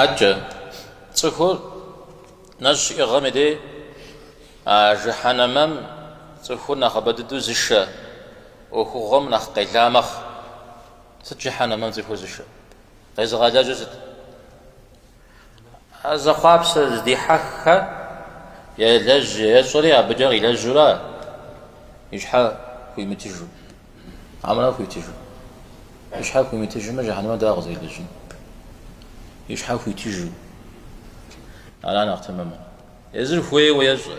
Адэкӏэ цӏыхур нэщӏ щиӏыгъэм и дей а жыхьэнэмэм цӏыхур нэхъыбэ дыдэу зышэ ӏуэхугъуэм нэхъ къела мэхъу. Сыт жыхьэнэмэм цӏыхур зышэ? Къезыгъэлэжьыр сыт? А зэхъуапсэ здихьэххэ елэжь ещӏэри абыкӏэ къилэжьу ара и щхьэ хуимытыжу. Хьэмэрэ хуитыжу. И щхьэ хуимытыжмэ, жэхьэнэмэ дауэ къызэрилэжьын? И щхьэ хуитыжу. Ара нэхъ тэмэмыр. Езыр хуейуэ ещӏэ.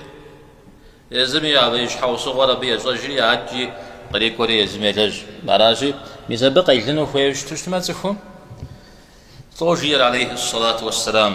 Езым и щхьэусыгъуэр абы ещӏэжри, адэкӏи кърикӏуэри езым елэжь. Аращи, мис абы къелыну хуейуэ щыту щытмэ цӏыхум, лӏо жиӏэр алейхьи сэлату уэссэлам.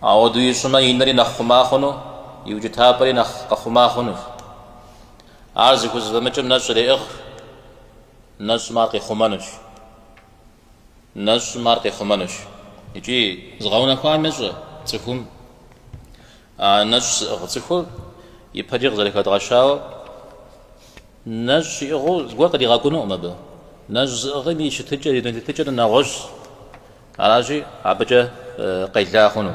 Ауэдэу ищӏмэ, и нэри нэхъ хъума хъуну, и укӏытапӏэри нэхъ къэхъума хъунущ. Ар зыхузэфӏэмыкӏым нэщӏ иреӏыгъ, нэщӏым ар къихъумэнущ. Нэщӏым ар къихъумэнущ. Икӏи зыгъэунэхуам ещӏэ цӏыхум а нэщӏ зыӏыгъ цӏыхур ипэкӏэ къызэрыхэдгъэщауэ, Нэщӏ щиӏыгъыу зыгуэр къыдигъэкӏуэнукъым абы. Нэщӏ зыӏыгъым и щытыкӏэр, и дуней тетыкӏэр нэгъуэщӏщ. Аращи, абыкӏэ къела хъуну.